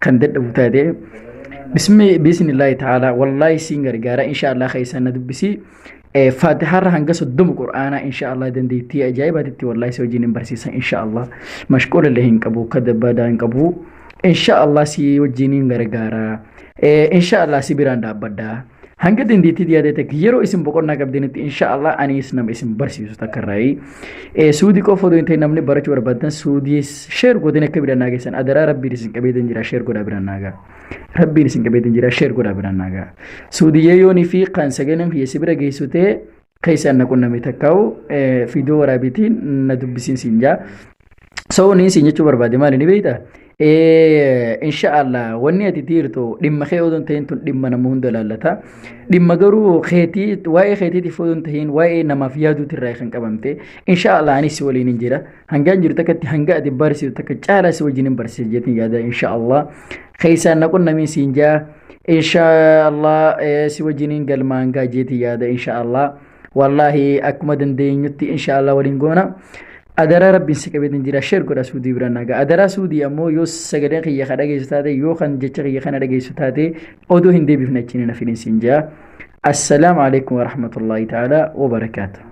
kan dadhabu taate biismillaahi ta'aalaa wallaahi siin gargaara inshaallah keessaan na dubbisi faatihaarra hanga soddoma qur'aanaa inshaallah dandeettii ajaa'ibaatitti wallaahi si wajjin hin barsiisa inshaallah mashquula illee hin qabu kadda badaa hin qabu inshaallah si wajjin hin gargaara inshaallah si biraan dhaabbadha Hanga dandeettii dhiyaatee takka yeroo isin boqonnaa qabdanitti inshaallah anis nama isin barsiisu takka irraayi. Suudii qofa odoo hin ta'in namni barachuu barbaadan suudii sheer godhanii akka biraan naageessan adaraa rabbiin isin qabeetan jira sheer godhaa biraan naagaa. Rabbiin isin qabeetan jira sheer godhaa biraan naagaa. Suudiyyee yoonii fi kan sagaleen kiyya si bira geessu ta'e keessa anna qunname takkaa'u fiidoo waraabiitiin na dubbisiin siin jaa. So niin siin jechuu barbaade maali ni beektaa? Inshaallah wanni ati dhiirtu dhimma kee odoo hin ta'in tun dhimma nama hunda ilaallata. Dhimma garuu keetii waa'ee keetiitiif odoo hin ta'in waa'ee namaaf yaaduuti irraa kan qabamte. Inshaallah anis si waliin hin jira. Hangaan jiru takkatti hanga ati barsiisu takka caalaa si wajjin hin barsiisa jeetiin yaada inshaallah. Keessaan na qunnamiin siin jaa. Inshaallah eh, si wajjiniin galmaan gaa jeeti yaada inshaallah. Wallaahi akkuma dandeenyutti inshaallah waliin goona. Adaraa rabbiin si qabeetiin jira sheer godha suudii bira nagaa. Adaraa suudii ammoo yoo sagaleen kiyya ka dhageessu taate yoo kan jecha kiyya kana dhageessu taate odoo hin deebifne achiin hin hafin isin jaa. Assalaamu alaikum warahmatullahi ta'ala wabarakaatu.